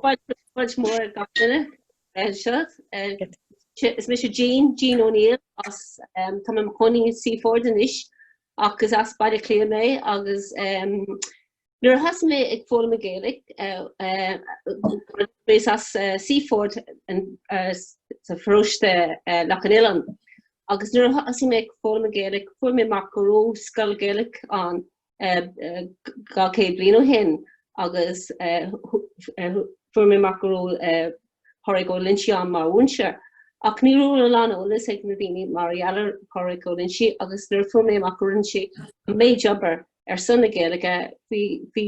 Fáilte mór gach duine seo. Is mise Jean Jean O'Neill is tá mé i mo chónaí Seaford anois ach is as Baile Átha Cliath mé agus nuair a thosaigh mé ag foghlaim an Ghaeilge is as Seaford sa pharóiste Loch an Oileáin agus nuair a thosaigh mé ag foghlaim an Ghaeilge fuair mé amach go raibh scoil Ghaeilge ann dhá chéad bliain ó shin agus fuair mé amach go raibh Pádraig Ó Loinsigh ann mar mhúinteoir ach ní raibh a lán eolas ag na daoine mar gheall ar Phádraig Ó Loinsigh agus nuair a fuair mé amach go raibh sé an méid obair ar son na Gaeilge bhí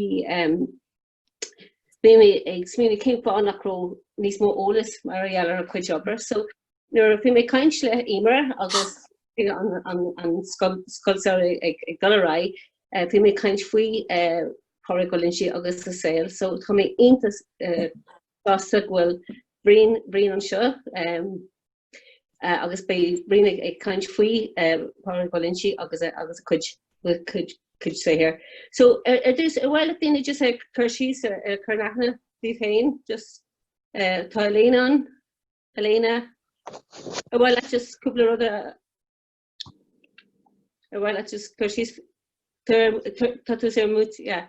mé ag smaoineamh cén fáth nach raibh níos mó eolas mar gheall ar a chuid obair. So nuair a bhí mé ag caint le Emer agus an scoil samhraidh ag dul ar aghaidh, bhí mé ag caint faoi Pádraig Ó Loinsigh agus a shaol. So tá mé iontach sásta go bhfuil Brian Brian anseo agus beidh Brian ag ag caint faoi Pádraig Ó Loinsigh agus agus a chuid chuid chuid saothair. So ar ar dtús an bhfuil daoine just ag cur síos ar ar cur aithne oraibh féin just eh, tá Elaine an Elaine ar bhfuil le just cúpla rud a ar bhfuil le just cur síos tar- tar- tá tú ar mute yeah.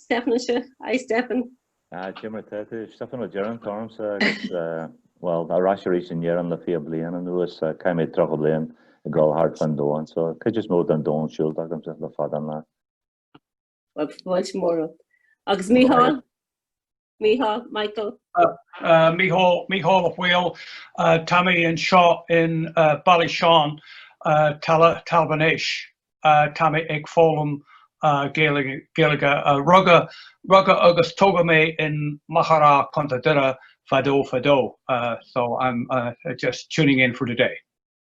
Stephan anseo. Hi Stephan. Ah, cad é mar atá tú? Stephan Ó Direáin atá ormsa agus, bhuel, ar ais arís in Éirinn le fiche bliain anuas. Chaith mé tríocha bliain ag dul thart fán domhan, so cuid is mó den domhan siúlta agamsa le fada an lá. Bhuel, tá fáilte mhór romhat. Agus Micheál? Micheál, Michael. Micheál, Micheál a Mhaoil, tá mé anseo in Ballysean, Talmhan Éis. Tá mé ag foghlaim Gaeilge. Rugadh agus tógadh mé in Machaire Rátha, Contae Doire fadó fadó. So I'm just tuning in for today.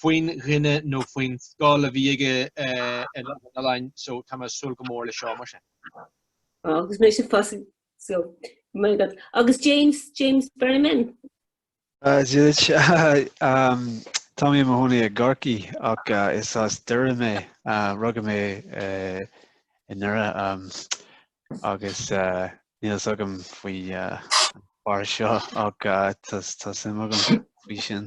faoin dhuine nó faoin scoil a bhí aige i Loch an Oileáin so tá mé ag súil go mór le seo mar sin. Agus mé fosta, so maith agat agus James James Berryman. Táim i mo chónaí i gCorcaigh ach is as Doire mé, rugadh mé i nDoire agus níl fhios agam faoin fhear seo ach tá suim agam faoi sin.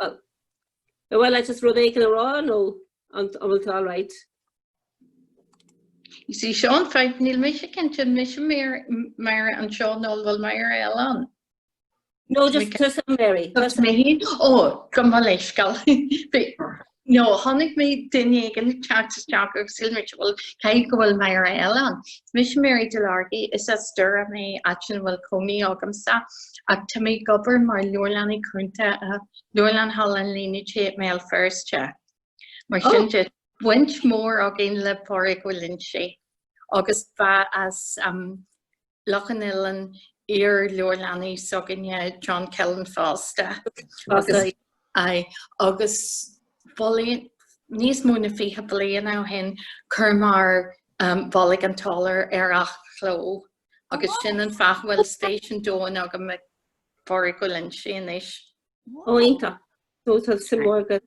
Bhuel, bhuel, I just rud éicin a rá nó an bhfuil tú all right? Is é sin é, níl mise cinnte, mise Mary anseo nó an bhfuil Mary eile ann? No, just tusa Mary. Just me. Ó, go maith, lá scoile. Nó chonaic mé duine éigin ag teacht isteach agus shíl mé bhuel caithfidh go bhfuil Máire eile ann. Is mise Mary Delargy is as Doire mé áit ina bhfuil cónaí agamsa ach tá mé ag obair mar leabharlannaí cúnta i Leabharlann Halla an Línéadaigh i mBéal Feirste. Mar sin de, baint mhór againn le Pádraig Ó Loinsigh agus bheith as Loch an Oileáin, iar-leabharlannaí s'againne, John Killen fosta, agus foilsíodh níos mó na fiche bliain ó shin chuir muid Bolg an tSolair ar athchló agus sin an fáth a bhfuil spéis an domhain agam i bPádraig Ó Loinsigh anois. Ó iontach! Tá suim mhór agat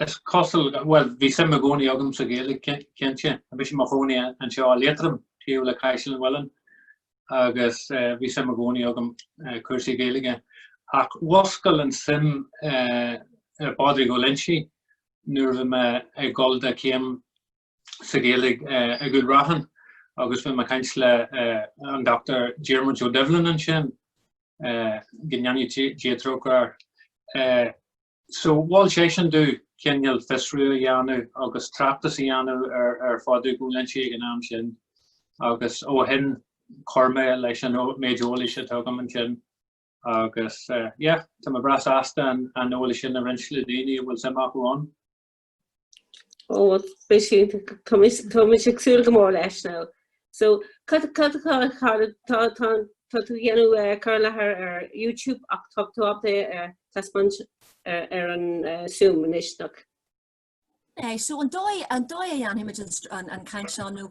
Is cosúil, bhuel, bhí suim i gcónaí agam sa Ghaeilge, cinnte. Bímse i mo chónaí anseo i Liatroim, taobh le Caisleán Uidhilín, agus bhí suim i gcónaí agam i gcúrsaí Gaeilge. Ach mhúscail an suim i bPádraig Ó Loinsigh nuair a bhí mé ag dul do chéim sa Ghaeilge ag Cúil Raithin agus bhí mé ag caint le an Dochtúir Diarmuid Ó Doibhlin ansin, go ndéana Dia trócaire air. So mhol seisean domh cineál fiosrú a dhéanamh agus tráchtas a dhéanamh ar Phádraig Ó Loinsigh ag an am sin agus ó shin chuir mé leis an méid eolais atá agam ansin agus yeah, tá mé breá sásta an eolas sin a roinnt le daoine a bhfuil suim acu ann. Ó bhuel tá mise ag súil go mór leis ná. So tá tú ag déanamh cur i láthair ar YouTube ach tá tú ábalta taispeáint ar an Zoom anois nach. An dóigh a dhéanfaimid an caint seo nó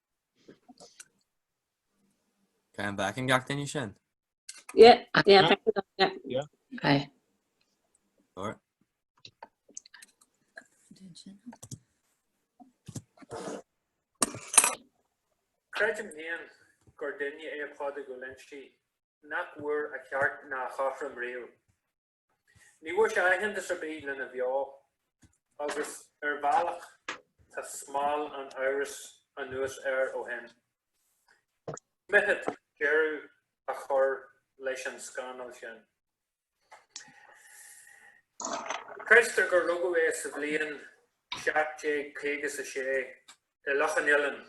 An bhfeiceann gach daoine sin? Yeah, yeah, thank you, yeah. Yeah. Aye. Alright. Creidim féin gur duine é Pádraig Ó Loinsigh nach bhfuair a cheart ná a chothrom riamh. Ní bhfuair sé aitheantas ar bith lena bheo agus ar bhealach tá smál an amhrais anuas air ó shin. Mithid deireadh a chur leis an scannal sin. Creidtear gur rugadh é sa bhliain 1756 i Loch an Oileáin.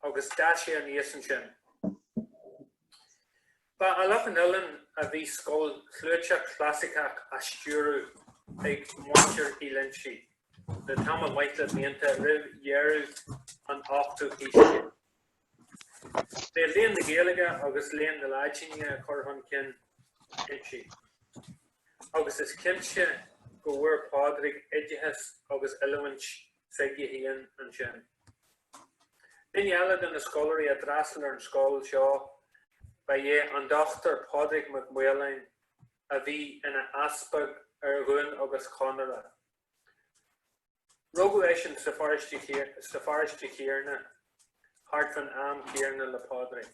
agus d'fhás sé aníos ansin. Ba i Loch an Oileáin a bhí scoil chlúiteach chlasaiceach á stiúradh ag muintir Uí Loinsigh le tamall maith de bhlianta roimh dheireadh an ochtú haois déag. B'é léann na Gaeilge agus léann na Laidine a chur chun cinn inti, agus is cinnte go bhfuair Pádraig oideachas agus oiliúint 21 ansin. Duine eile de na scoláirí a d'fhreastail ar an scoil seo ba ea an Dr Pádraig Mac Maoláin a bhí ina easpag ar Dhún agus Chonaire. Rugadh eisean sa pharáiste chéanna thart fán am céanna le Pádraig.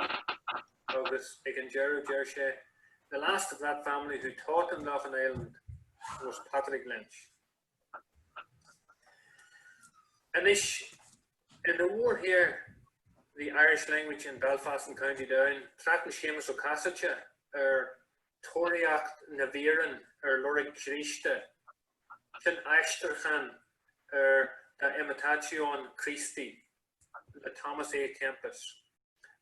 agus ag an deireadh deir sé, The last of that family who taught in Loughinisland was Patrick Lynch. Anois, ina mhórshaothar, the Irish language in Belfast and County Down, tráchtann Séamus Ó Casaide ar Tóraíocht na bhFíréan ar Lorg Chríosta, sin aistriúchán ar De Imitatione Christi le Thomas à Kempis,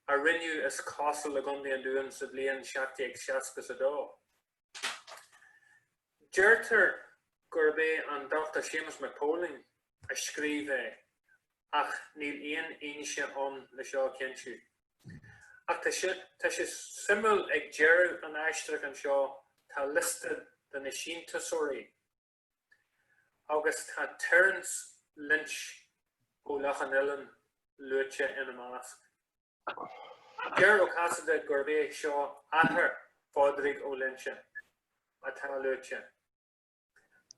a rinneadh is cosúil i gContae an Dúin sa bhliain 1762. Deirtear gurb é an Dr Séamus Mac Póilin a scríobh é ach níl aon fhianaise ann le seo a chinntiú. Ach tá sé suimiúil ag deireadh an aistriúcháin seo tá liosta de na síntiúsóirí. agus tá Terence Lynch ó Loch an Oileáin luaite ina measc. Deir Ó Casaide gurb é seo athair Phádraig Ó Loinsigh atá luaite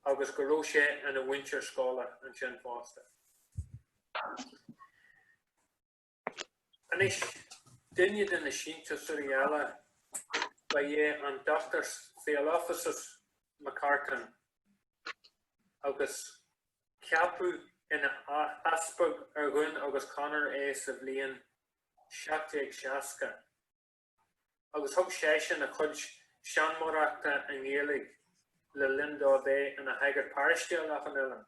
agus go raibh sé ina mhúinteoir scoile ansin fosta. Anois, duine de na síntiúsóirí eile ba ea an Dr Theolophysos McCartan agus ceapadh ina easpag ar Dhún agus Conaire é sa bhliain 1760, agus thug seisean a chuid seanmóireachta i nGaeilge le linn dó bheith ina shagart paróiste i Loch an Oileáin.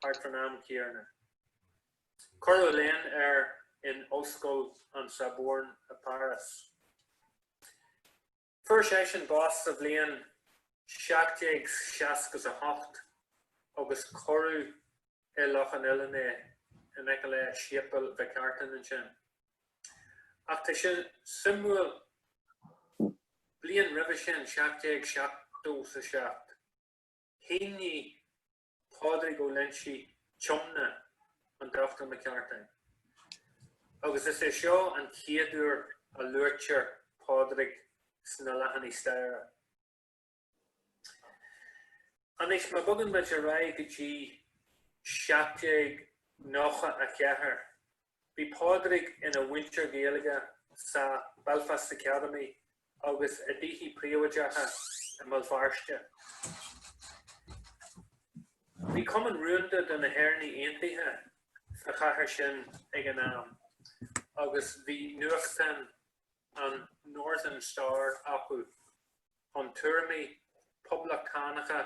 thart san am chéarna. Cuireadh léann air in Ollscoil an Sorbonne i bPáras. Fuair seisean bás sa bhliain 1768 agus cuireadh i Loch an Oileáin é in aice le Séipéal Mhic Artain ansin. Ach tá sé suimiúil, bliain roimhe sin, 1777, shínigh Pádraig Ó Loinsigh Tiomna an Dr McCartan agus is é seo an chéad uair a luaitear Pádraig sna leathanaigh staire. Anois má bhogann muid ar aghaidh go dtí 1794, Bhí Pádraig ina mhúinteoir Gaeilge sa Belfast Academy agus i dtithe príobháideacha i mBéal Feirste. Bhí cumann rúnda de na hÉireannaigh Aontaithe sa chathair sin ag an am agus bhí nuachtán an Northern Star acu. chun tuairimí poblachtánacha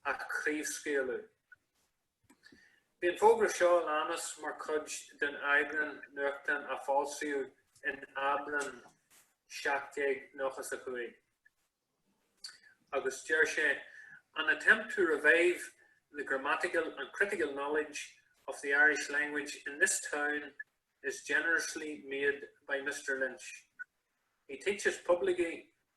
a chraobhscaoileadh. Bhí an fógra seo a leanas mar chuid den eagrán nuachtáin a foilsíodh in Aibreán 1795, agus deir sé, 'An attempt to revive the grammatical and critical knowledge of the Irish language in this town is generously made by Mr Lynch. He teaches publicly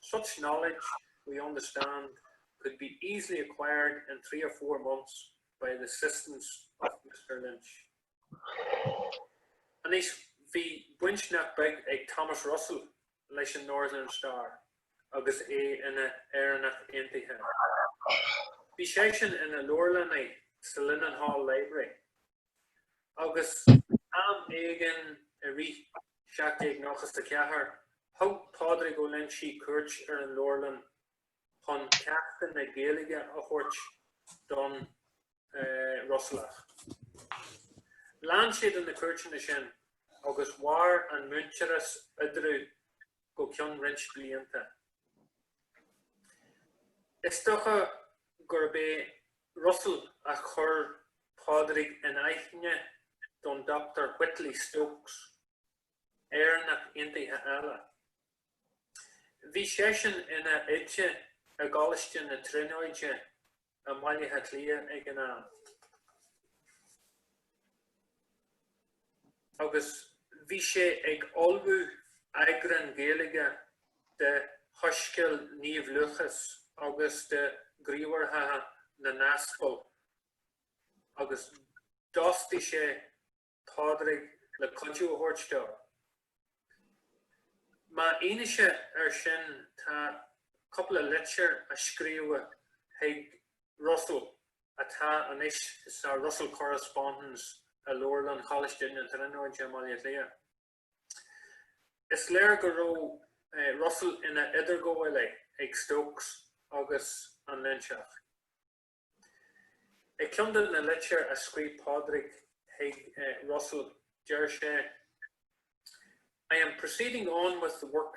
Such knowledge, we understand, could be easily acquired in three or four months by the assistance of Mr Lynch. Anois, bhí baint nach beag ag Thomas Russell leis an Northern Star agus é ina Éireannach Aontaithe. Bhí seisean ina leabharlannaí sa Linenhall Library agus am éigin i rith 1794 thug Pádraig Ó Loingsigh cuairt ar an leabharlann chun ceachtanna Gaeilge a thabhairt don Ruiséalach. Lean sé de na cuairteanna sin agus mhair an muintearas eadarthu go ceann roinnt blianta. Is dócha gurb é Russell a chuir Pádraig in aithne don Dr Whitley Stokes, Éireannach Aontaithe eile. Bhí seisean ina oide i gColáiste na Tríonóide i mBaile Átha Cliath ag an am. agus bhí sé ag ullmhú eagráin Gaeilge de Shoiscéal Naomh Lúcás agus de Ghníomhartha na nAspal agus d'fhostaigh sé Pádraig le cuidiú a thabhairt dó. Mar fhianaise air sin tá cúpla litir a scríobhadh chuig Russell. atá anois sa Russell Correspondence i Leabharlann Choláiste na Tríonóide i mBaile Átha Cliath. Is léir go raibh Russell ina idirghabhálaí ag Stokes agus an Loinseach. I gceann de na litir a scríobh Pádraig chuig Russell deir sé, 'I am proceeding on with the work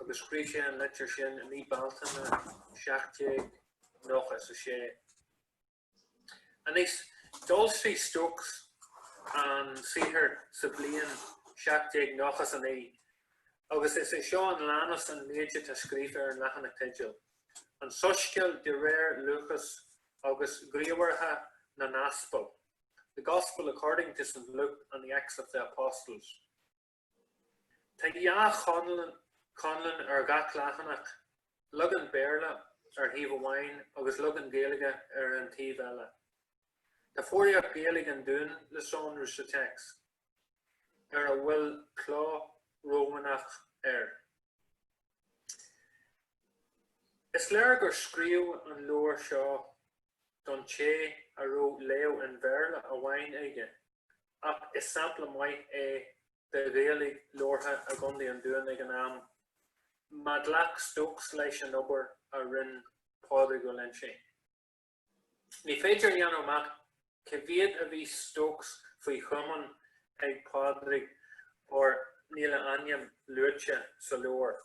agus scríobh sé an litir sin i mí Bealtaine 1796. Anois, d'fhoilsigh Stokes an saothar sa bhliain 1799, agus is é seo a leanas an méid atá scríofa ar an leathanach teideal, An Soiscéal de réir Lúcas agus Gníomhartha na nAspal, The Gospel according to St Luke and the Acts of the Apostles. Tá dhá cholún ar gach leathanach, leagan Béarla ar thaobh amháin agus leagan Gaeilge ar an taobh eile. Tá foghraíocht Ghaeilge an Dúin le sonrú sa téacs, a bhfuil cló Rómhánach air. Is léir gur scríobhadh an leabhar seo don té a raibh léamh an Bhéarla amháin aige, ach is sampla maith é de Ghaeilge labhartha i gContae an Dúin ag an am, má ghlac Stokes leis an obair a rinne Pádraig Ó Loinsigh. Ní féidir a dhéanamh amach cé mhéad a bhí Stokes faoi chomaoin ag Pádraig óir níl a ainm luaite sa leabhar,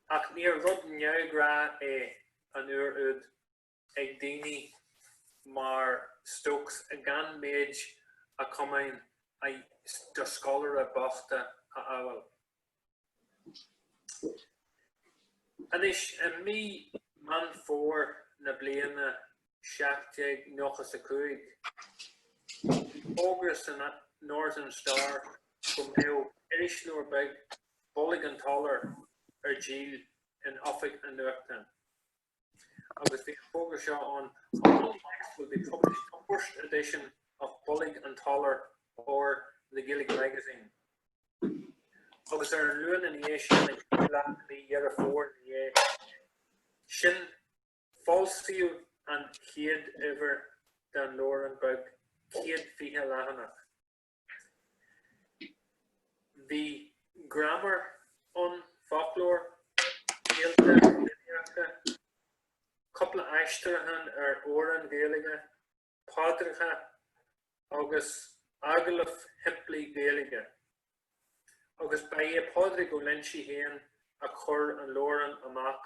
ach níor rud neamhghnách é an uair úd. ag daoine mar Stokes gan méid a chomaoin do scoláirí bochta a admháil. Anois i mí Meán Fómhair na bliana 1795, bhí fógra san Northern Star go mbeadh irisleabhar beag, Bolg an tSolair, ar díol in oifig an nuachtáin. agus bhí an fógra seo ann Monday next will be published on first edition of Bolg an tSolair or The Gaelic Magazine agus ar an Luan ina dhiaidh sin i lár mhí Dheireadh Fómhair ina dhiaidh sin foilsíodh an chéad uimhir den leabhrán beag 120 leathanach. Bhí gramadach ann, foclóir, scéalta Fiannaíochta, cúpla aistriúchán ar amhráin Ghaeilge, paidreacha agus agallamh simplí Ghaeilge. Agus ba é Pádraig Ó Loinsigh féin a chuir an leabhrán amach.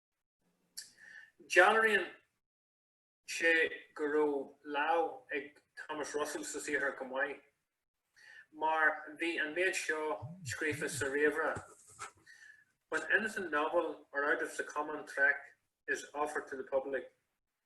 Dealraíonn sé go raibh lámh ag Thomas Russell sa saothar go maith, mar bhí an méid seo scríofa sa réamhrá, When anything novel or out of the common track is offered to the public,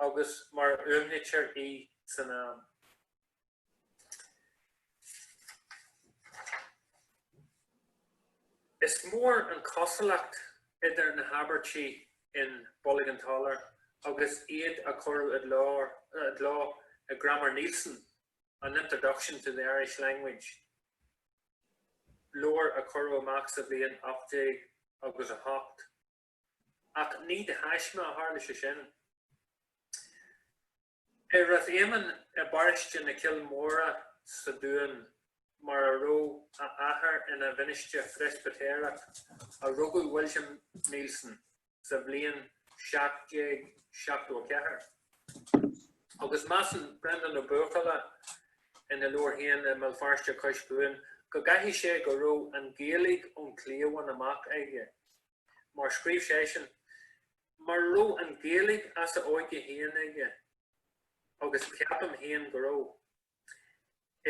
agus mar a fhuaimnítear í san am. Is mór an cosúlacht idir na habairtí in Bolg an tSolair agus iad a cuireadh i gcló i nGraiméar Neilson, An Introduction to the Irish Language, leabhar a cuireadh amach sa bhliain ocht déag agus a hocht. Ach ní de thaisme a tharla sé sin. I Rath Éamainn i bparóiste na Cille Móire sa Dún, mar a raibh a athair ina mhinistir Phreispitéireach, a rugadh William Neilson sa bhliain 1774. Agus measann Breandán Ó Buachalla ina leabhar féin I mBéal Feirste Cois Cuain go gcaithfidh sé go raibh an Ghaeilge ón chliabhán amach aige. Mar scríobh sé sin, mura raibh an Ghaeilge as a óige féin aige, agus ceapaim féin go raibh,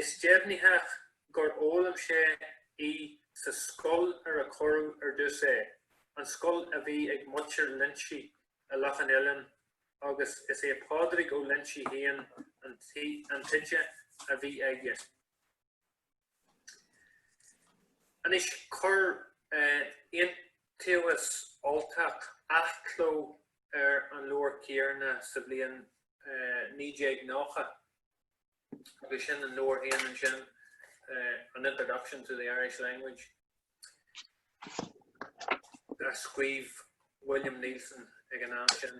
is deimhnitheach gur fhoghlaim sé í sa scoil ar a cuireadh ar dtús é, an scoil a bhí ag muintir Loinsigh i Loch an Oileáin, agus is é Pádraig Ó Loinsigh féin an t-oide a bhí aige. Anois chuir Iontaobhas Ultach athchló ar an leabhar céanna sa bhliain 1990 agus sin an leabhar féin ansin, An Introduction to the Irish Language. a scríobh William Neilson ag an am sin.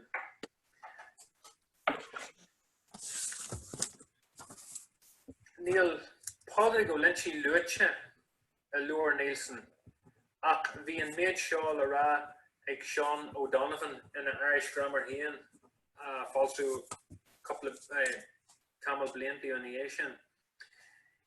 Níl Pádraig Ó Loinsigh luaite i leabhar Neilson, ach bhí an méid seo le rá ag Seán O'Donovan ina Irish Grammar féin a foilsíodh cúpla tamall blianta ina dhiaidh sin.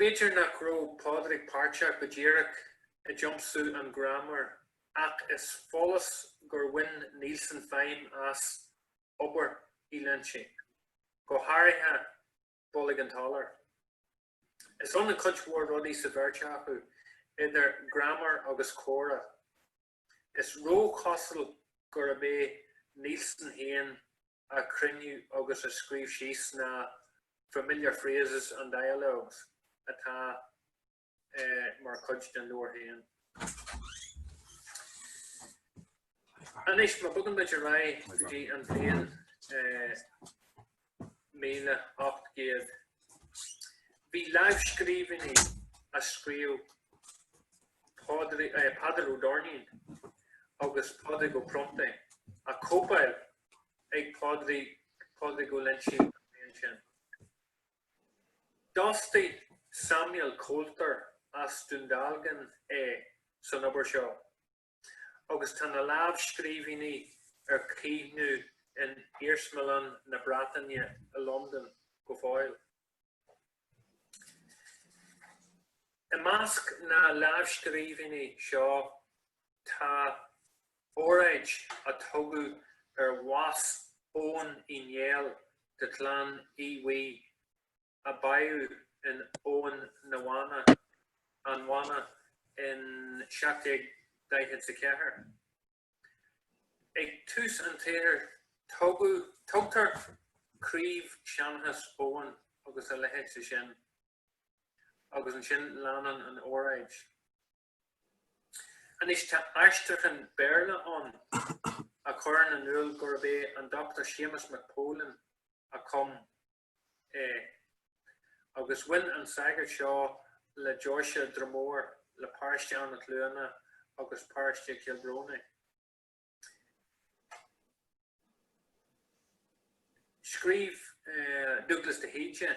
B'fhéidir nach raibh Pádraig páirteach go díreach i dtiomsú an Ghraiméir ach is follas gur bhain Neilson feidhm as obair Uí Loinsigh, go háirithe Bolg an tSolair. Is ionann cuid mhór rudaí sa bheirt acu, idir graiméar agus comhrá. Is róchosúil gurb é Neilson féin a chruinnigh agus a scríobh síos na 'familiar phrases and dialogues' atá mar chuid den leabhar féin. Anois, má bogann muid ar aghaidh go dtí an bhliain 1800. Bhí lámhscríbhinní a scríobh Peadar Ó Doirnín agus Pádraig Ó Pronntaigh á cóipeáil ag Pádraig Ó Loingsigh an bhliain sin. D'fhostaigh Samuel Coulter as Dún Dealgan é san obair seo. agus tá na lámhscríbhinní ar caomhnú in Iarsmalann na Breataine i Londain go fóill. I measc na lámhscríbhinní seo tá óráid a tugadh ar bhás Eoghain Uí Néill de Chlann Aodha Bhuí. a bádhadh in abhainn na Banna, An Bhanna in 1744. Ag tús an tsaothair tugadh, tugtar craobhsheanchas Eoghain agus a leithéid de sin agus ansin leanann an óráid. Anois tá aistriúchán Béarla ann a chuireann in iúl gurb é an Dr Séamus Mac Póilin a chum é, agus bhain an sagart seo le deoise Dromore le paróiste Eanach Cluana agus paróiste Kilbroney. Scríobh Dúghlas de hÍde.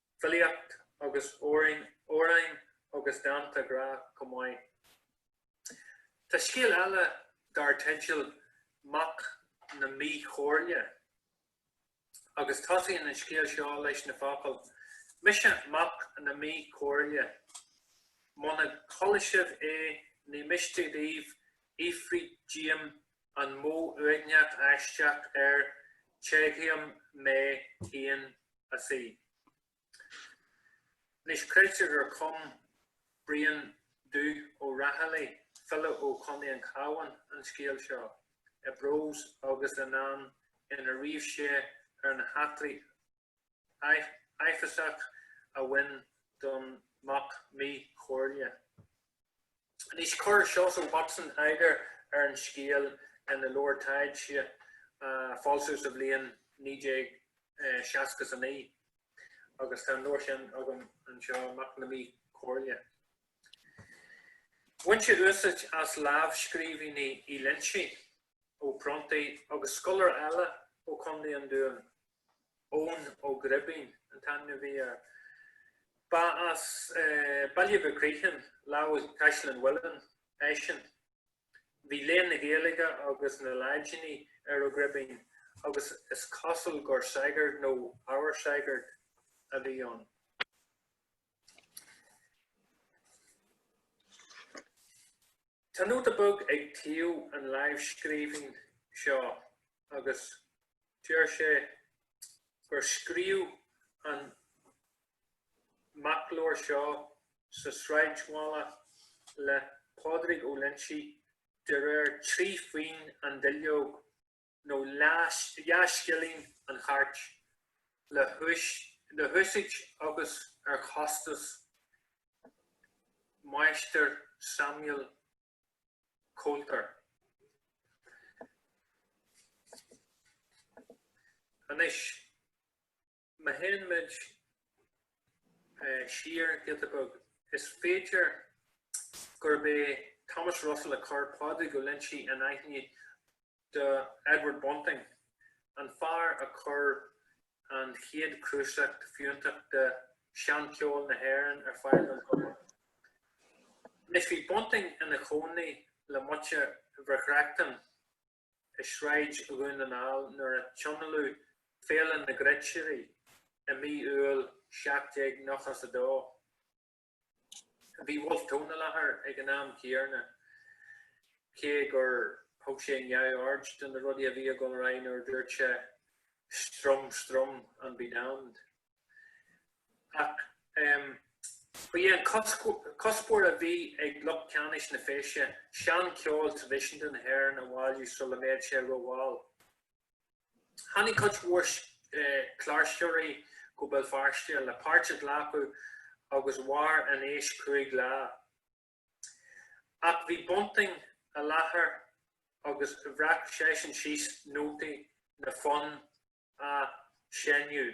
filíocht agus amhráin agus dánta grá chomh maith. Tá scéal eile dar teideal 'Mac na Míchomhairle' agus tosaíonn an scéal seo leis na focail, 'Mise mac na míchomhairle. Muna gcualaidh sibh é ní miste daoibh fhiafraí díom an modh uaigneach aisteach air téigheam mé féin a sí. Anois creidtear gur chum Brian Dubh Ó Raghallaigh, file ó Chontae an Chabháin, an scéal seo i bprós agus i ndán ina ríomh sé ar na heachtraí a áiféiseach a bhain don mac mí-chomhairle. Anois chuir Seosamh Watson eagar ar an scéal ina leabhar taighde a foilsíodh sa bhliain 1969 agus tá an leabhar sin agam anseo, Mac na Mí-Chomhairle. Bhain sé úsáid as lámhscríbhinní Uí Loingsigh Ó Pronntaigh agus scoláire eile ó Chontae an Dúin, Eoin Ó Gribín an t-ainm a bhí air. Ba as Baile Mhic Criomhthain, lámh le Caisleán Uidhilín, eisean. Bhí léann na Gaeilge agus na Laidine ar Ó Gribín agus is cosúil gur sagart nó ábhar sagairt a bhí ann. Tá nóta beag ag taobh an láimhscríbhinn seo agus deir sé gur scríobhadh an macleabhar seo sa sráidbhaile le Pádraig Ó Loingsigh de réir trí phingin an duilleog nó dhá scilling an chairt, le húsáid agus ar chostas Máistir Samuel Coulter. Anois. Má théann muid siar giota beag, is féidir gurb é Thomas Russell a chuir Pádraig Ó Loingsigh in aithne do Edward Bunting, an fear a chuir an chéad cnuasach fiúntach de sheancheol na hÉireann ar fáil don phobal. Anois, bhí Bunting ina chónaí le muintir Mhic Reachtain, i Sráid Dhún na nGall nuair a tionóladh Féile na gCruitirí i mí Iúil 1792. Bhí Wolfe Tone i láthair ag an am céarna cé gur thug sé neamhaird de na rudaí a bhí ag dul ar aghaidh nuair a dúirt sé Strum, strum, and be damned. ach ba é an cuspóir a bhí ag lucht ceannais na feise seancheol traidisiúnta na hÉireann a bhailiú sula mbeadh sé rómhall. Tháinig cuid mhór cláirseoirí go Béal Feirste le páirt a ghlacadh agus mhair an fheis cúig lá. Ach bhí Bunting i láthair agus bhreac seisean síos nótaí na bhfonn. a shainiú.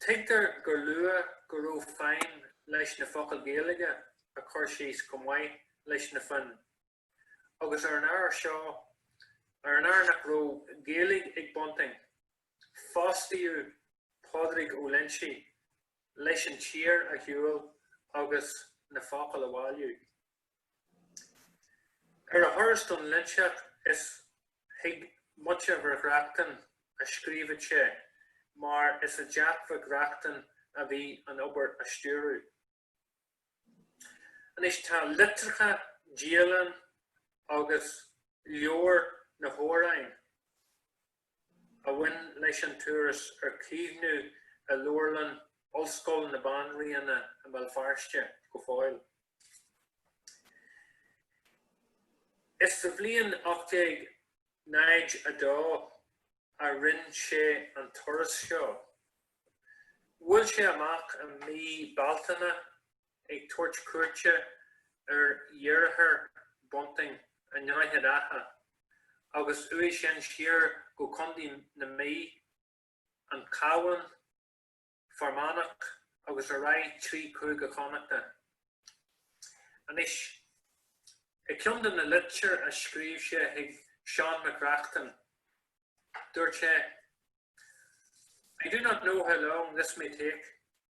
Tuigtear gur luadh go raibh feidhm leis na focail Gaeilge a chur síos chomh maith leis na foinn, agus ar an ábhar seo, ar an ábhar nach raibh Gaeilge ag Bunting, fostaíodh Pádraig Ó Loinsigh leis an tír a shiúl agus na focail a bhailiú. Ar a thuras don Loinseach is chuig muintir Mhic Reachtain a scríobhadh sé mar is i dteach Mhic Reachtain a bhí an obair á stiúradh. Anois tá litreacha, dialann agus leabhar na hamhráin. a bhain leis an turas ar caomhnú i Leabharlann Ollscoil na Banríona i mBéal Feirste go fóill. Is sa bhliain 1802 a rinne sé an turas seo. Bhuail sé amach i mí Bealtaine ag tabhairt cuairte ar dheartháir Bunting i nDroichead Átha agus uaidh sin siar go Contae na Mí, an Cabhán, Fear Manach agus ar aghaidh trí Chúige Chonnachta. Anois, i gceann de na litir a scríobh sé chuig Seán Mac Reachtain, dúirt sé, I do not know how long this may take.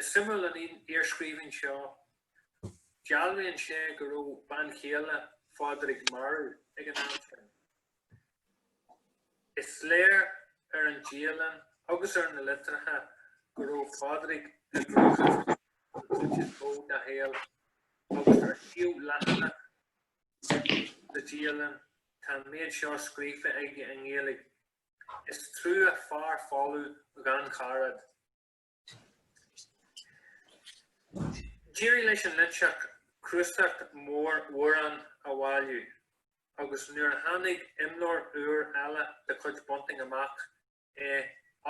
Is suimiúil an iarscríbhinn seo. Dealraíonn sé go raibh bean chéile Phádraig marbh ag an am sin. Is léir ar an dialann agus ar na litreacha go raibh Pádraig i gcruachás an chuid is mó dá shaol agus ar thaobh leathanach sa dialann tá an méid seo scríofa aige i nGaeilge Is trua fear folamh gan caraid. D'éirigh leis an Loinseach cnuasach mór amhrán a bhailiú agus nuair a tháinig imleabhar úr eile de chuid Bunting amach i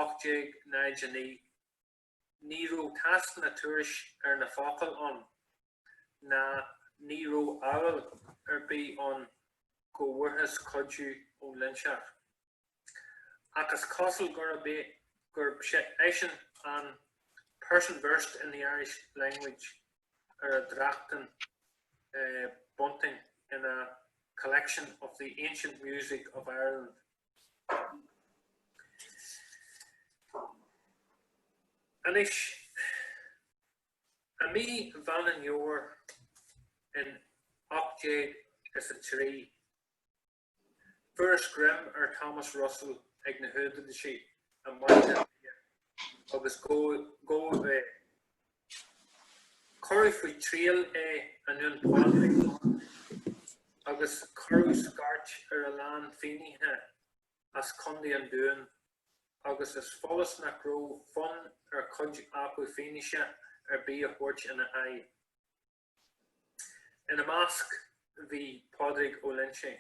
1809, Ní raibh tásc ná tuairisc ar na focail ann ná ní raibh admháil ar bith ann go bhfuarthas cuidiú ón Loinseach. Ach is cosúil gurb é, gurb eisean an person versed in the Irish language ar a dtráchtann Bunting ina Collection of the Ancient Music of Ireland. Anois, i mí Mheán an Fhómhair in ocht déag is a trí, fuarthas greim ar Thomas Russell ag na húdaráisí i mBaile Átha Cliath agus gabhadh é. Cuireadh faoi triail é i nDún Pádraig agus cuireadh scairt ar a lán fínnithe as Contae an Dúin agus is follas nach raibh fonn ar chuid acu fianaise ar bith a thabhairt ina aghaidh. Ina measc bhí Pádraig Ó Loinsigh.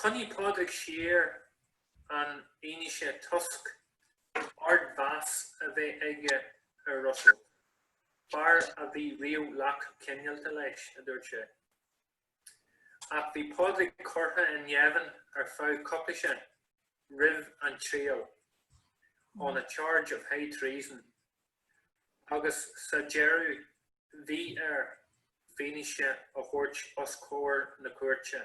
Coinnigh Pádraig siar an fhianaise toisc ardmheas a bheith aige ar Russell, fear a bhí riamh lách cineálta leis, a dúirt sé. Ach bhí Pádraig curtha i ngéibheann ar feadh coicise roimh an triail, on a charge of high treason, agus sa deireadh bhí air fianaise a thabhairt os comhair na cúirte.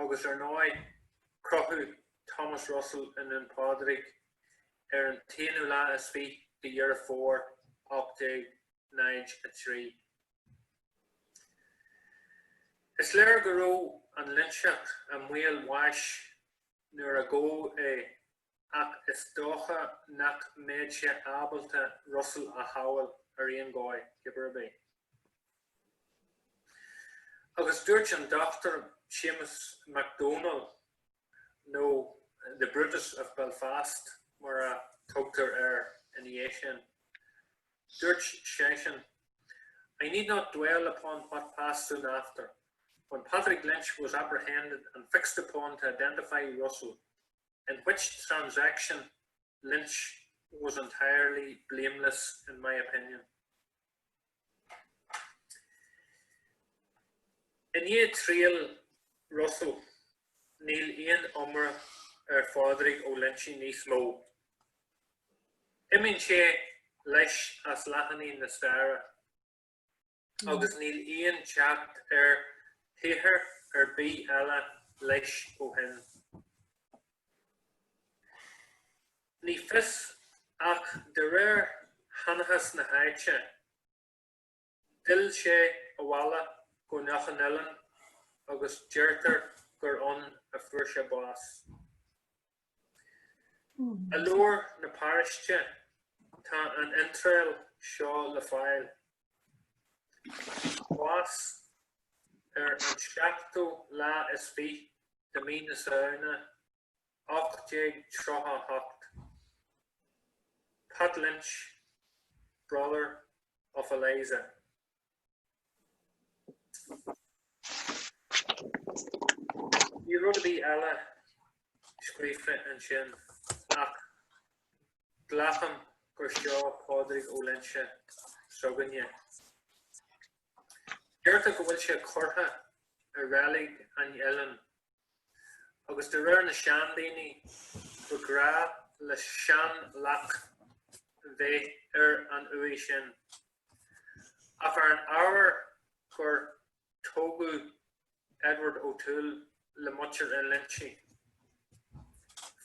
agus ar ndóigh crochadh Thomas Russell i nDún Pádraig ar an t-aonú lá is fiche de Dheireadh Fómhair 1803. Is léir go raibh an Loinseach i mbaol bháis nuair a gabhadh é ach is dócha nach mbeadh sé ábalta Russell a shábhail ar aon dhóigh, cibé ar bith. Agus dúirt an Dr Séamus Mac Dómhnaill, nó The Brutus of Belfast mar a thugtar air ina dhiaidh sin, dúirt seisean, I need not dwell upon what passed soon after, when Patrick Lynch was apprehended and fixed upon to identify Russell. in which transaction Lynch was entirely blameless in my opinion'. I ndiaidh triail Russell, níl aon iomrá ar Phádraig Ó Loinsigh níos mó. Imíonn sé leis as leathanaigh na staire. agus níl aon teacht ar shaothar ar bith eile leis ó shin. Ní fios, ach de réir sheanchas na háite, d'fhill sé abhaile go Loch an Oileáin agus deirtear gur ann a fuair sé bás. I leabhar na paráiste tá an iontráil seo le fáil, Bás ar an seachtú lá is fiche de mí na Samhna, 1838. Pat Lynch, brother of Eliza. Níl rud ar bith eile scríofa ansin ach glacaim gur seo Pádraig Ó Loinsigh s'againne. Deirtear go bhfuil sé curtha i reilig an oileáin agus de réir na seandaoine ba ghnách le seanleac bheith ar an uaigh sin. Ach ar an ábhar gur tógadh Edward O'Toole le muintir Uí Loinsigh,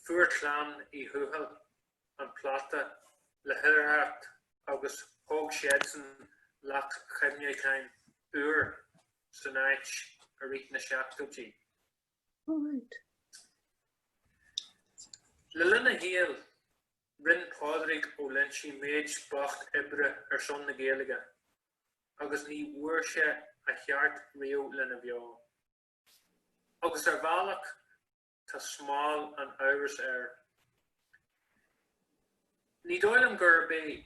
fuair clann Uí Thuathail an plota le hoidhreacht agus thóg siadsan leac chuimhneacháin úr san áit i rith na seachtóidí. Le linn a shaoil, rinne Pádraig Ó Loinsigh méid beacht oibre ar son na Gaeilge agus ní bhfuair sé a cheart riamh lena bheo. Agus ar bhealach, Tá smál an amhrais air. Ní dóigh liom gurb é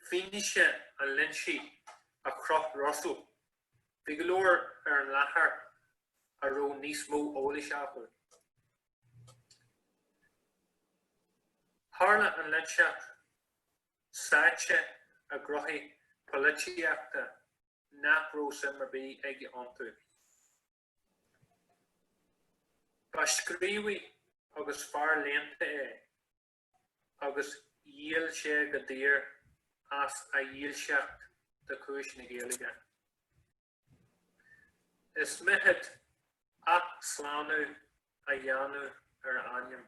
fianaise an Loinsigh a chroch Russell. Bhí go leor ar an láthair a raibh níos mó eolais acu. Tharla an Loinseach sáite i ngnóthaí polaitíochta nach raibh suim ar bith aige iontu. Ba scríobhaí agus fear léannta é agus dhíol sé go daor as a dhílseacht do chúis na Gaeilge. Is mithid athshlánú a dhéanamh ar a ainm.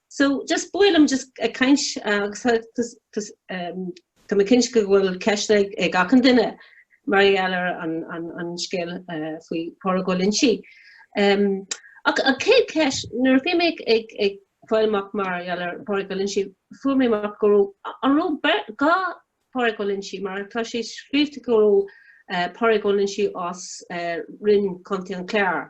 So just ba mhaith liom just ag caint agus tá mé cinnte go bhfuil ceisteanna ag achan duine mar gheall ar an an an scéal faoi Pádraig Ó Loinsigh. Ach an chéad ceist nuair a bhí mé ag ag ag fáil amach mar gheall ar Pádraig Ó Loinsigh fuair mé amach go raibh an raibh beirt dhá Pádraig Ó Loinsigh mar tá sé scríobhte go raibh Pádraig Ó Loinsigh as Quin, Contae an Chláir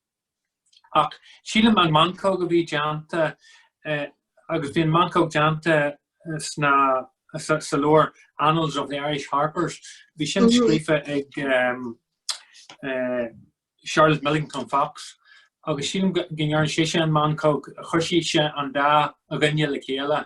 Ach sílim an meancóg a bhí déanta, agus bhí an meancóg déanta sna, sa leabhar Annals of the Irish Harpers, bhí sin scríofa ag Charlotte Millington Fox agus sílim go ndearna sise an meancóg, chuir sise an dá dhuine le chéile.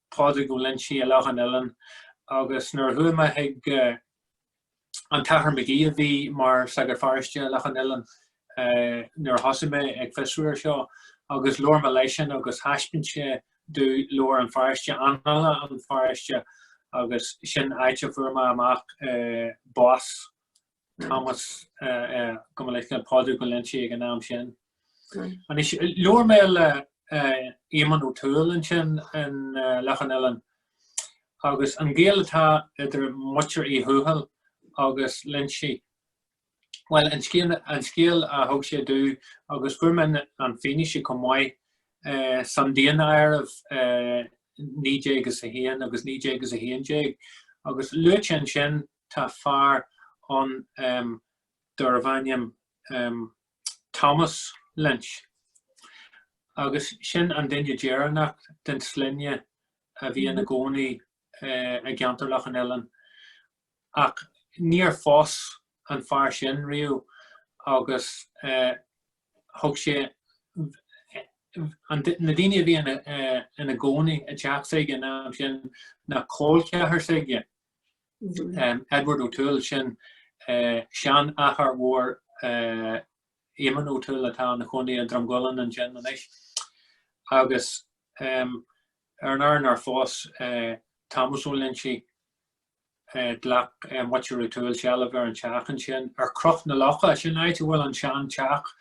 Pádraig Ó Loingsigh i Loch an Oileáin agus nuair a chuaigh mé chuig an tAthair Magee a bhí mar Sagart Pharáiste i Loch an Oileáin nuair a thosaigh mé ag fiosrú ar seo agus labhair mé leisean agus thaispeáin sé domh leabhar an pharáiste, Annála an Pharáiste agus sin áit a fuair mé amach bás Thomas gabh mo leithscéal, Pádraig Uí Loingsigh ag an am sin. Anois labhair mé le Éamonn Ó Tuathail ansin in Loch an Oileáin agus an gaol atá idir muintir Uí Thuathail agus Loingsigh, bhuel an scéal a thug sé domh agus fuair mé an fianaise chomh maith san Daonáireamh 1901 agus 1911 agus luaite ansin Tá fear ann darbh ainm Thomas Lynch agus sin an duine deireanach den sloinne a bhí ina gcónaí i gceantar Loch an Oileáin. Ach níor phós an fear sin riamh agus thug sé na daoine a bhí ina gcónaí i dteach s'aige an am sin ná col ceathar s'aige. Edward O'Toole, sin seanathair mhór Eamonn O'Toole atá ina chónaí i Drumgooland ansin anois, agus ar an ábhar nár phós Tomás Ó Loingsigh, ghlac muintir O'Toole seilbh ar an teach ansin ar Chnoc na Locha, sin áit a bhfuil an seanteach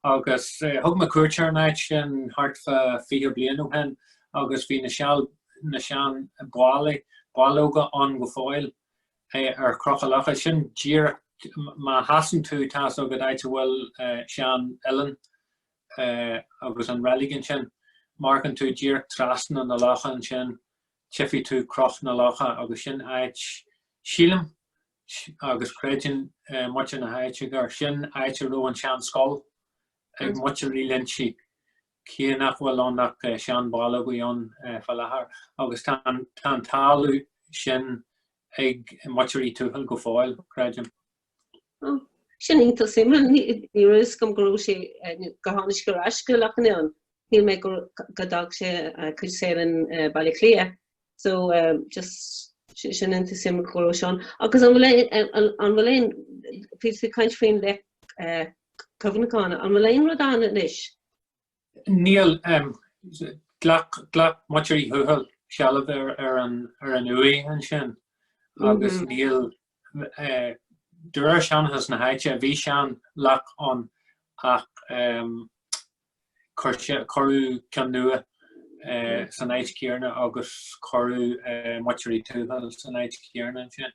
agus thug mé cuairt ar an áit sin thart fá fiche bliain ó shin agus bhí na sean na seanbhallaí, ballóga ann go fóill ar Chnoc an Locha. Sin díreach, má sheasann tú, tá fhios agat áit a bhfuil sean oileán agus an reilig ansin, má amharcann tú díreach trasna na locha ansin, tchífidh tú Cnoc na Locha agus sin áit, sílim agus creideann muintir na háite gur sin áit a raibh an sean scoil ag muintir Uí Loingsigh Cé nach bhfuil ann ach seanbhallóga ann fá láthair agus tá an talamh sin ag muintir Uí Thuathail go fóill, creidim. Oh, sin iontach suimiúil. Ní raibh fhios agam go raibh sé go tháinig sé ar ais go Loch an Oileáin. Shíl mé go dtug sé a chuid saoil in Baile Átha Cliath. so um just sin iontach suimiúil go raibh sé ann. Agus an bhfuil aon, bhí tú ag caint faoin leic eh, cuimhneacháin, an bhfuil aon rud ann anois? Níl, um, ghlac, ghlac muintir Uí Thuathail sealbh ar, ar an, ar an uaigh ansin agus mm -hmm. níl, eh, de réir seanchas na háite, bhí seanleac ann ach um, Cuireadh ceann nua san áit chéanna agus cuireadh muintir Uí Thuathail san áit chéanna ansin.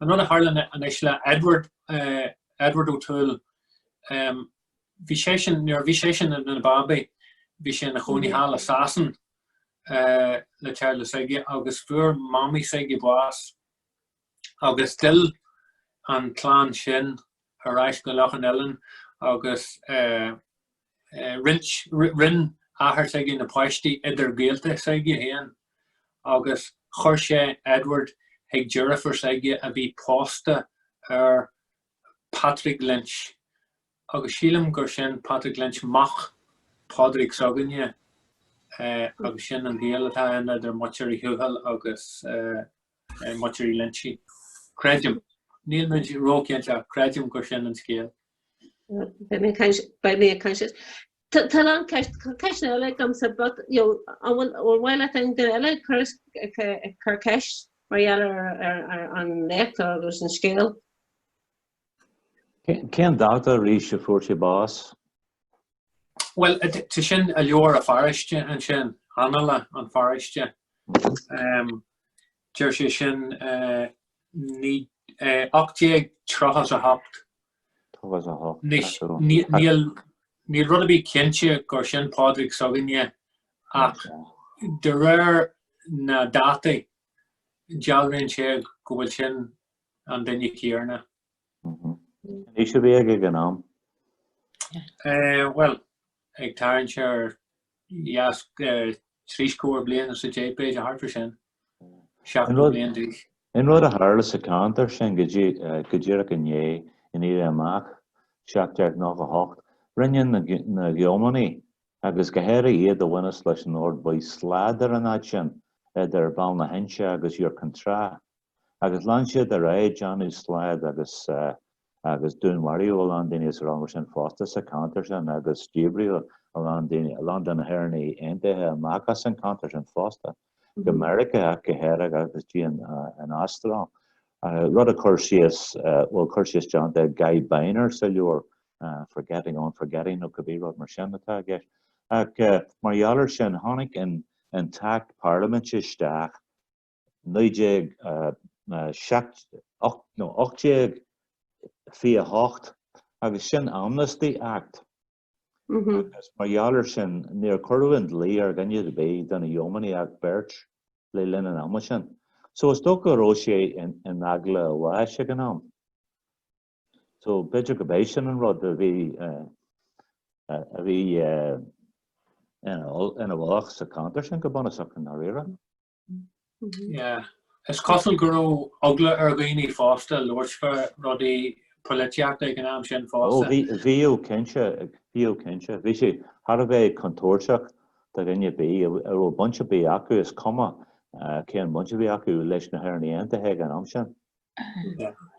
An rud a tharla anois le Edward, Edward O'Toole, bhí seisean, nuair a bhí seisean ina babaí bhí sé ina chónaí thall i Sasain le teaghlach s'aige agus fuair mamaí s'aige bás, agus d'fhill an clann sin ar ais go Loch an Oileáin agus roinn athair s'aige na páistí idir gaolta s'aige féin agus chuir sé Edward chuig deirfiúr s'aige a bhí pósta ar Patrick Lynch agus sílim gur sin Patrick Lynch mac Pádraig s'againne agus sin an gaol atá ann idir Muintir Uí Thuathail agus Muintir Uí Loinsigh, Creidim, níl muid róchinnte ach creidim gur sin an scéal. Beidh mé ag caint, beidh mé ag caint leis. Tá tá an ceist, tá ceist eile agamsa but you know an bhfuil an bhfuil leat aon duine eile ag cur is ag ag cur ceist mar gheall ar ar ar an léacht agus an scéal? Cén dáta arís a fuair sé bás? Bhuel, tá sin i leabhar an pharóiste ansin, Annála an Pharóiste. Deir sé sin 1838. 38. Níl rud ar bith cinnte gur sin Pádraig s'againne ach de réir na dátaí dealraíonn sé go bhfuil sin an duine céarna. Cén aois a bhí aige ag an am? Bhuel, ag tarraingt suas ar trí scór bliain is a deich b'fhéidir, thart fá sin, seachtó bliain d'aois. An rud a tharla sa cheantar sin go díreach i ndiaidh an éirí amach, 1798, rinne na gíománaigh, agus go háirithe iad a bhaineas leis an Ord Buí slad ar an áit sin, idir Bhaile na hInse agus Iúr Cinn Trá, agus lean siad ar aghaidh, ag déanamh slad agus agus dúnmharaíodh a lán daoine san am sin fosta sa ceantar sin agus díbríodh a lán daoine, a lán de na hÉireannaigh Aontaithe amach as an ceantar sin fosta, go Meiriceá ach go háirithe agus go dtí an Astráil. Rud a bhfuil cur síos déanta ag Guy Beiner sa leabhar Forgetting on Forgetting nó cibé rud mar sin atá i gceist. Ach mar gheall ar sin tháinig an an tAcht Parlaiminte isteach 1828 agus sin Amnesty Act agus mar gheall ar sin níor cuireadh an dlí ar dhuine ar bith de na Yeomanry ach beirt le linn an ama sin. So is dócha go raibh sé in eagla a bháis ag an am. So b'fhéidir gurb é sin an rud a bhí ina fholach sa cheantar sin go bunúsach i ndáiríre. Is cosúil go raibh eagla ar dhaoine fosta labhairt fá rudaí poilitíochta ag an am sin fosta. Ó bhíodh cinnte, bhíodh cinnte. Bhí sé thar a bheith contúirteach do dhuine ar bith a raibh baint ar bith acu, is cuma cén bhaint a bhí acu, leis na hÉireannaigh Aontaithe ag an am sin.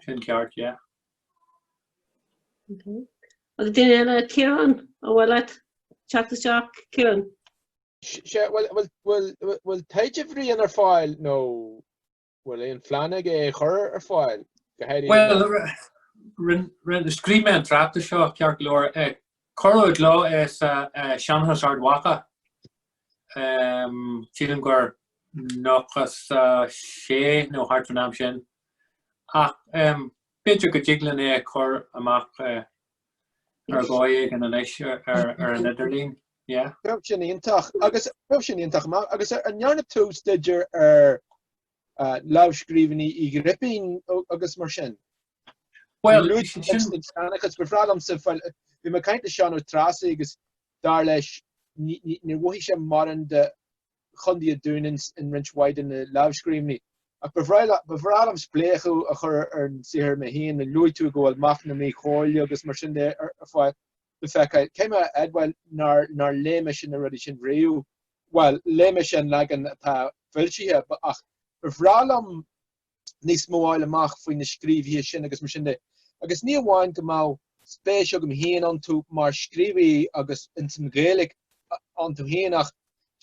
Sin ceart, yeah. Agus duine eile, Ciarán, an bhfuil leat teacht isteach, Ciarán? Sea, bhfuil taighde Bhriain ar fáil nó bhfuil aon phlean agat é a chur ar fáil go háirithe? Bhuel, scríobh mé an tráchtas seo, ceart go leor. Cuireadh i gcló é sa Seanchas Ard Mhacha, sílim gur 96 nó thart fán am sin, ach b'fhéidir go dtig linn é a chur amach Ar dhóigh éigin anois ar an idirlíon, yeah. Bheadh sin iontach agus bheadh sin iontach amach agus an ndearna tú staidear ar lámhscríbhinní Uí Ghripín agus mar sin? Bhuel, luaigh sin agus ba bhreá liomsa bhí mé ag caint le Seán Ó Treasaigh agus dar leis níbh as, ní bh'amhlaidh sé mar aon de Chontae an Dúin i roinnt mhaith de na lámhscríbhinní. Ach ba bhreá liom, ba bhreá liom spléachadh a chur ar an saothar mé féin, luaigh tú go bhfuil Mac na Míchomhairle agus mar sin de ar fáil le feiceáil? Caithfidh mé a admháil nár, nár léigh mise na rudaí sin riamh? Bhuel, léigh mise an leagan atá foilsithe, ach ba bhreá liom níos mó a fháil amach faoi na scríobhaithe sin agus mar sin de. Agus ní amháin go mbeadh spéis agam féin iontu mar scríobhaí agus ins an Ghaeilge iontu féin ach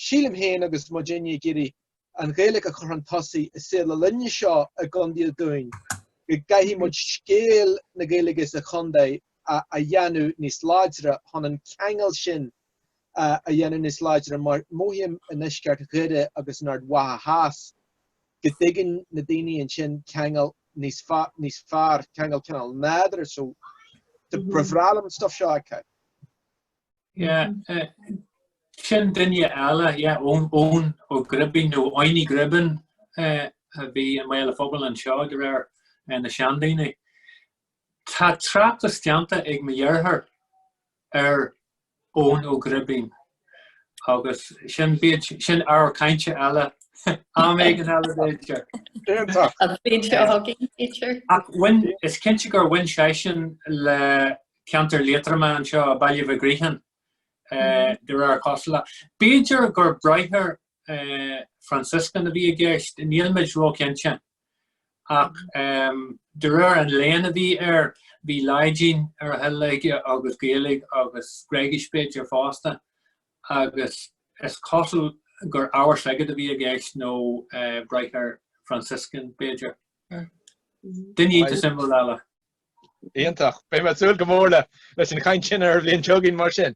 sílim féin agus muidinne ag iarraidh an Ghaeilge a chur chun tosaigh i saol na linne seo i gCondae an Dúin go gcaithfidh muid scéal na Gaeilge sa chontae a dhéanamh níos láidre chun an ceangal sin a dhéanamh níos láidre mar mhóithím i ndeisceart Dhoire agus in Ard Mhacha Theas go dtuigeann na daoine ansin ceangal níos fearr, ceangal cineál nádúrtha so is dóigh go bhfuil an stuff seo acu. Sin duine eile, Eoin Ó Gribín nó Eoiní Gribín a bhí i mbaol an phobail anseo de réir na seandaoine. Tá tráchtas déanta ag mo dheartháir ar Eoin Ó Gribín agus sin ábhar cainte eile am éigin eile b'fhéidir. Ach bhain, is cinnte gur bhain seisean le ceantar Liatroma anseo, Baile Mhig Riachain, de réir a chosúlachta. B'fhéidir gur bráithre Franciscan a bhí i gceist, nílimid róchinnte. ach de réir an léinn a bhí air bhí Laidin ar a thoil aige agus Gaeilge agus Gréigis b'fhéidir fosta agus is cosúil gur ábhar sagairt a bhí i gceist nó bráthair Franciscan b'fhéidir. Duine iontach suimiúil eile. Iontach. Beidh mé ag súil go mór leis an chaint sin ar an bhliain seo chugainn mar sin.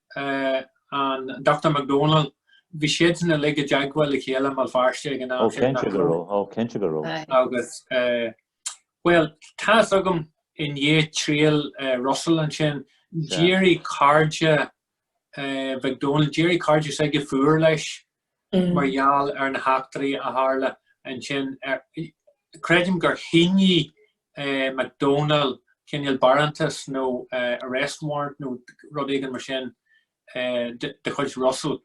an Dr McDonnell, bhí siadsan uilig i dteagmháil le chéile i mBéal Feirste ag an am sin. Ó cinnte go raibh, ó cinnte go raibh. Agus, bhuel, tá fhios agam i ndiaidh triail Russell ansin, d'éirigh cairde McDonnell, d'éirigh cairde s'aige fuar leis mar gheall ar na heachtraí a tharla ansin. Creidim gur shínigh Mac Domhnaill cineál barántas nó arrest warrant nó rud éigin mar sin de chuid Russell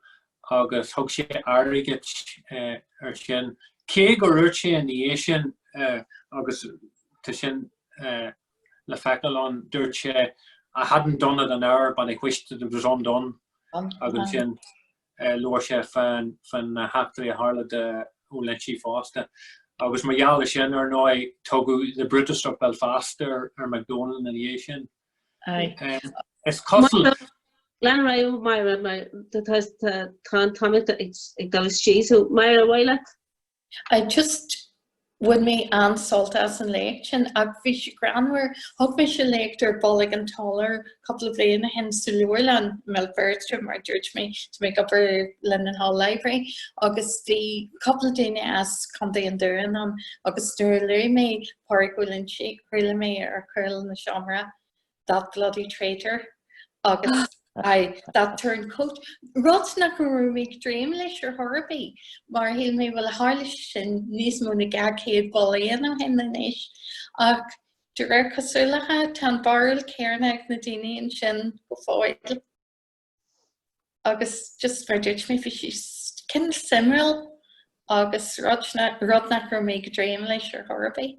agus thug sé airgead air sin, cé gur dhúirt sé ina dhiaidh sin agus tá sin le feiceáil ann, dúirt sé, I hadn't done it an hour but I wished that it was undone agus ansin. labhair sé faoi na heachtraí a tharla do Ó Loinsigh fosta agus mar gheall ar sin ar ndóigh tugadh The Brutus of Belfast ar McDonnell ina dhiaidh sin. Is cosúil. Go raibh maith agat Máire, tá an t-am ag dul isteach so Máire, ar aghaidh leat I just, bhain mé an-sult as an léacht sin ach bhí sé greannmhar. Thug mise léacht ar Bolg an tSolair cúpla bhliain ó shin sa leabharlann i mBéal Feirste mar dúirt mé do Mhac Gabhann Linenhall Library agus bhí cúpla duine as Contae an Dúin ann agus nuair a luaigh mé Pádraig Ó Loinsigh chuala mé ar chúl an tseomra that bloody traitor agus aye, that turncoat. Rud nach raibh mé ag dréim leis ar chor ar bith, mar shíl mé bhuel tharla sin níos mó ná dhá chéad bliain ó shin anois. Ach de réir cosúlachta tá an bharúil chéarna ag na daoine ansin go fóill. Agus just mar dúirt mé bhí sé cineál suimiúil agus rud nach raibh mé ag dréim leis ar chor ar bith.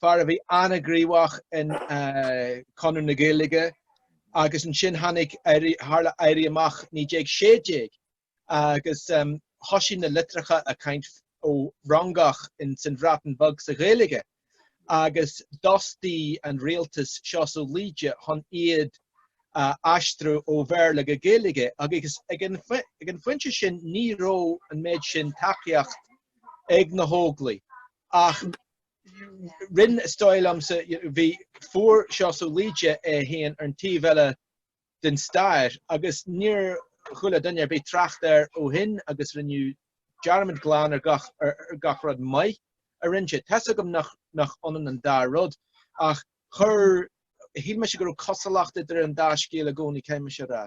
fear a bhí an-ghníomhach in Conradh na Gaeilge agus ansin tháinig, tharla Éirí Amach 1916 agus thoisigh na litreacha ag caint ó Fhrongoch ins an Bhreatain Bheag sa Ghaeilge agus d'fhostaigh an rialtas Seosamh Laoide chun iad a aistriú ó Bhéarla go Gaeilge agus ag an phointe sin ní raibh an méid sin tacaíocht ag na hÓglaigh ach Rinn is dóigh liomsa bhí fuair Seosamh Laoide é féin ar an taobh eile den stair agus níor chuala duine ar bith trácht air ó shin agus rinneadh dearmad glan ar gach ar gach rud maith a rinn sé. Tá's agam nach nach ionann an dá rud ach chuir shíl mise go raibh cosúlacht idir an dá scéal i gcónaí caithfidh mise a rá.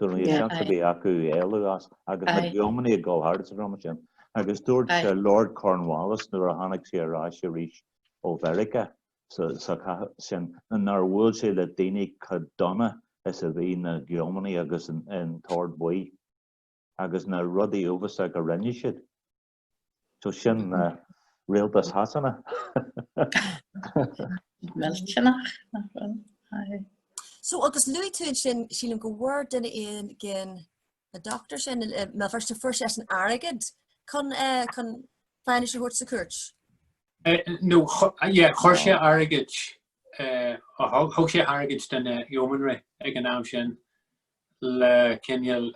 Dúirt mé, seans a bhí acu éalú as agus na gíománaigh ag dul thart ag an am sin. Agus dúirt Lord Cornwallis nuair a tháinig sé ar ais arís ó Mheiriceá sa chogadh sin nár bhuail sé le daoine chomh dona is a bhí na gíománaigh agus an tOrd Buí agus na rudaí uafásacha a rinne siad. So sin rialtas Shasana. Millteanach nach bhfuil. Aye. So agus luaigh tú sin sílim go bhfuair duine éigin an dochtúir sin eh, má fuair, fuair seisean airgead chun eh, chun fianaise a thabhairt sa chúirt. Eh, nó chuir sé airgead thug sé airgead do na yeomanry ag an am sin le cineál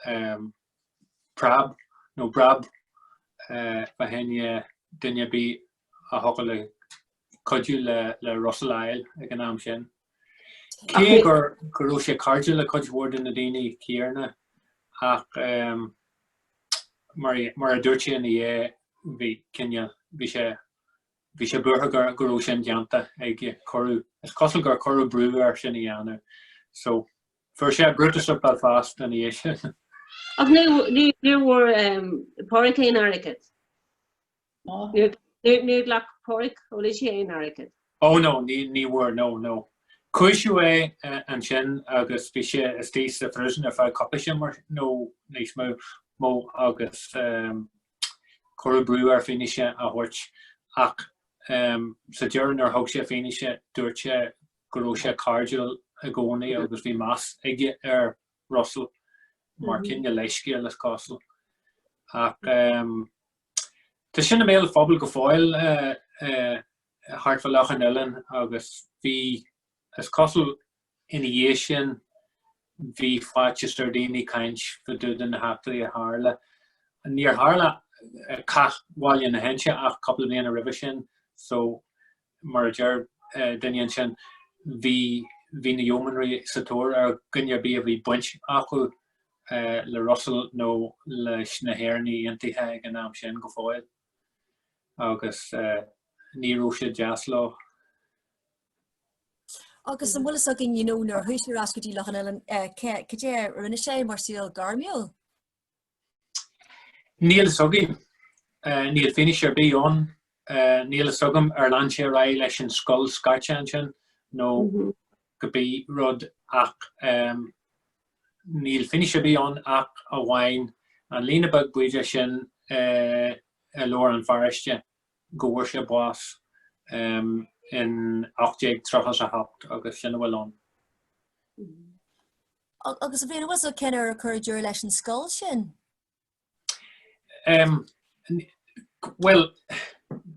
preab nó breab fá choinne duine ar bith a thug le cuidiú le Russell ag an am sin. Cé go raibh sé cairde le cuid mhór de na daoine céarna ach mar a dúirt sé ina dhiaidh bhí cineál, bhí sé bhí sé buartha go go raibh sin déanta aige, cuireadh, is cosúil gur cuireadh brú air sin a dhéanamh so Fuair sé Brutus of Belfast ina dhiaidh sin. Ach ní bhfuair Páraic aon airgead. Níor ghlac Páraic Ó Loingsigh aon airgead. Ó no, ní bhfuair, no, no. Cúisíodh é ansin agus bhí sé istigh sa phríosún ar feadh cúpla sé mar nó níos mó agus cuireadh brú air fianaise a thabhairt ach sa deireadh nuair a thug sé fianaise dúirt sé go raibh sé cairdiúil i gcónaí agus bhí meas aige ar Russell mar chineál leithscéil is cosúil. Ach Tá sin i mbéal an phobail go fóill thart fá Loch an Oileáin agus bhí is cosúil ina dhiaidh sin bhí faitíos ar dhaoine caint fá dtaobh de na heachtraí a tharla. Níor tharla cath Bhaile na hInse ach cúpla bliain roimhe sin so mar a deir duine ansin, bhí na Yeomanry sa tóir ar dhuine ar bith a bhí baint acu le Russell nó leis na hÉireannaigh Aontaithe ag an am sin go fóill agus ní raibh sé deas dóibh. Agus an bhfuil fhios againn nuair a chuaigh sé ar ais go dtí Loch an Oileáin cad é a rinne sé mar saol gairmiúil? Níl fhios againn. Níl fianaise ar bith ann. Níl fhios agam ar lean sé ar aghaidh leis an scoil scairte ansin nó cibé rud ach níl fianaise ar bith ann ach amháin an líne beag bídeach sin i leabhar an pharóiste go bhfuair sé bás in ocht déag tríocha a hocht agus sin a bhfuil ann. Agus an bhfuil fhios cén uair a cuireadh deireadh leis an scoil sin? Bhuel,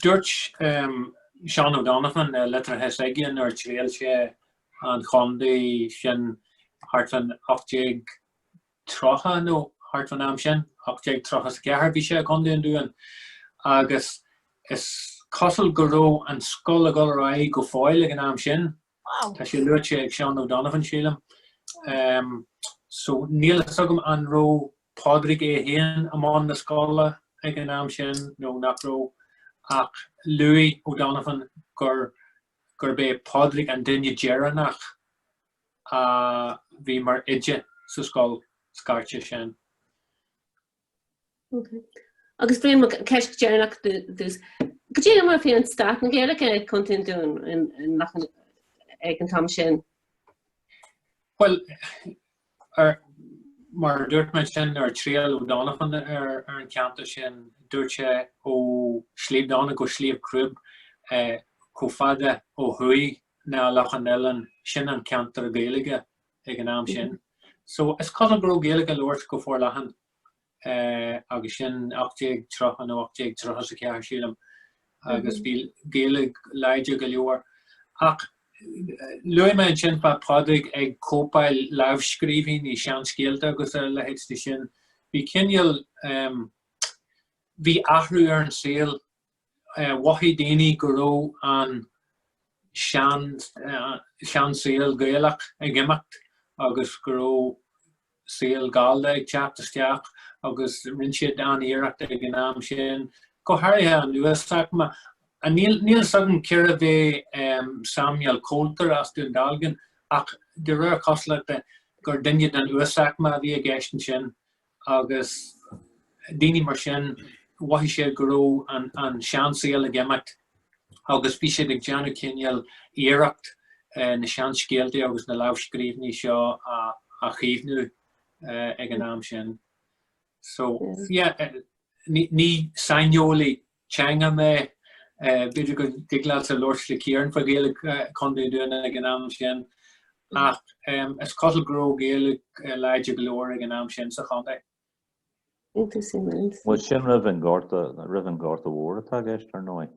dúirt Seán O'Donovan i litreacha s'aige nuair a thriall sé an chontae sin thart fan 1830 nó thart fan am sin, 1834 bhí sé i gContae an Dúin, agus is cosúil go raibh an scoil ag dul ar aghaidh go fóill ag an am sin, Wow. Tá sé luaite ag Seán O'Donovan sílim. Um, so níl fhios agam an raibh Pádraig é féin i mbun na scoile ag an am sin nó nach raibh ach luaigh O'Donovan gur gurb é Pádraig an duine deireanach a bhí mar oide sa scoil scairte sin. Agus an cheist dheireanach duitse, cad é mar a bhí an stát na Gaeilge i gContae an Dúin ag an am sin? Bhuel, mar a dúirt mé ansin, nuair a thriall O'Donovan ar an cheantar sin, dúirt sé ó Shliabh Dónairt go Sliabh Crúibe chomh fada ó thuaidh ná Loch an Oileáin, sin an ceantar Gaeilge ag an am sin. So is cosúil go raibh Gaeilge á labhairt go forleathan agus sin 1830 nó 1834 sílim agus bhí Gaeilge láidir go leor. Ach luaigh mé ansin fá Pádraig ag cóipeáil lámhscríbhinní seanscéalta agus a leithéid de sin. Bhí cineál, bhí athrú ar an saol mhothaigh daoine go raibh an seansaol Gaelach ag imeacht agus go raibh saol Gallda ag teacht isteach agus rinne siad an-iarracht ag an am sin, go háirithe an uasaicme. Níl 's agam cérbh é Samuel Coulter as Dún Dealgan ach de réir cosúlachta gur duine den uasaicme a bhí i gceist ansin. agus daoine mar sin, mhothaigh siad go raibh an seansaol ag imeacht agus bhí siad ag déanamh cineál iarracht na seanscéaltaí agus na lámhscríbhinní seo a chaomhnú ag an am sin. So, yeah, ní saineolaí teanga mé. B'fhéidir go dtig leatsa labhairt le Ciarán faoi Ghaeilge Chontae an Dúin ag an am sin ach is cosúil go raibh Gaeilge láidir go leor ag an am sin sa chontae. Bhuel sin roimh an Gorta, roimh an Gorta Mhór atá i gceist ar ndóigh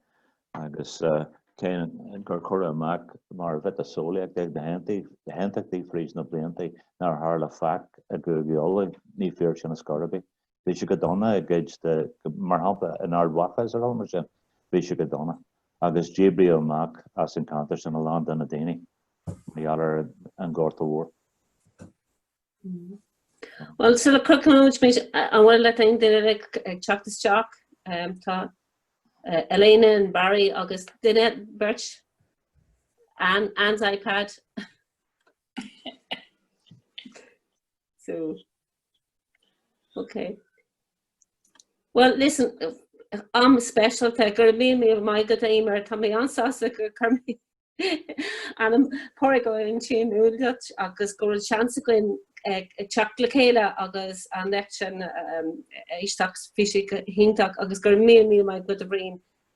agus cé gur cuireadh amach mar mhiotaseolaíocht é ag na hAontachtaithe fríd na bliantaí nár tharla faic i gCúige Uladh, ní fíor sin ar scor ar bith. bhí sé go dona i gcuid de, mar shampla in Ard Mhacha is ar bhonn mar sin, bhí sé go dona agus díbríodh amach as an ceantar sin a lán de na daoine mar gheall ar an Gorta Mhór. Bhuel sula gcríochnóidh muid an bhfuil leat aon duine eile ag teacht isteach, tá Elena and Barry agus duine beirt, Anne, Anne's iPad. So. Ok. Well listen, am speisialta go raibh míle míle maith agat Eimear tá mé an-sásta gur chuir mé ainm Pádraig ó ansin uilig agus go bhfuil seans againn ag teacht le chéile agus an léacht sin éisteacht bhí sí go hiontach agus go raibh míle míle maith agat a Bhriain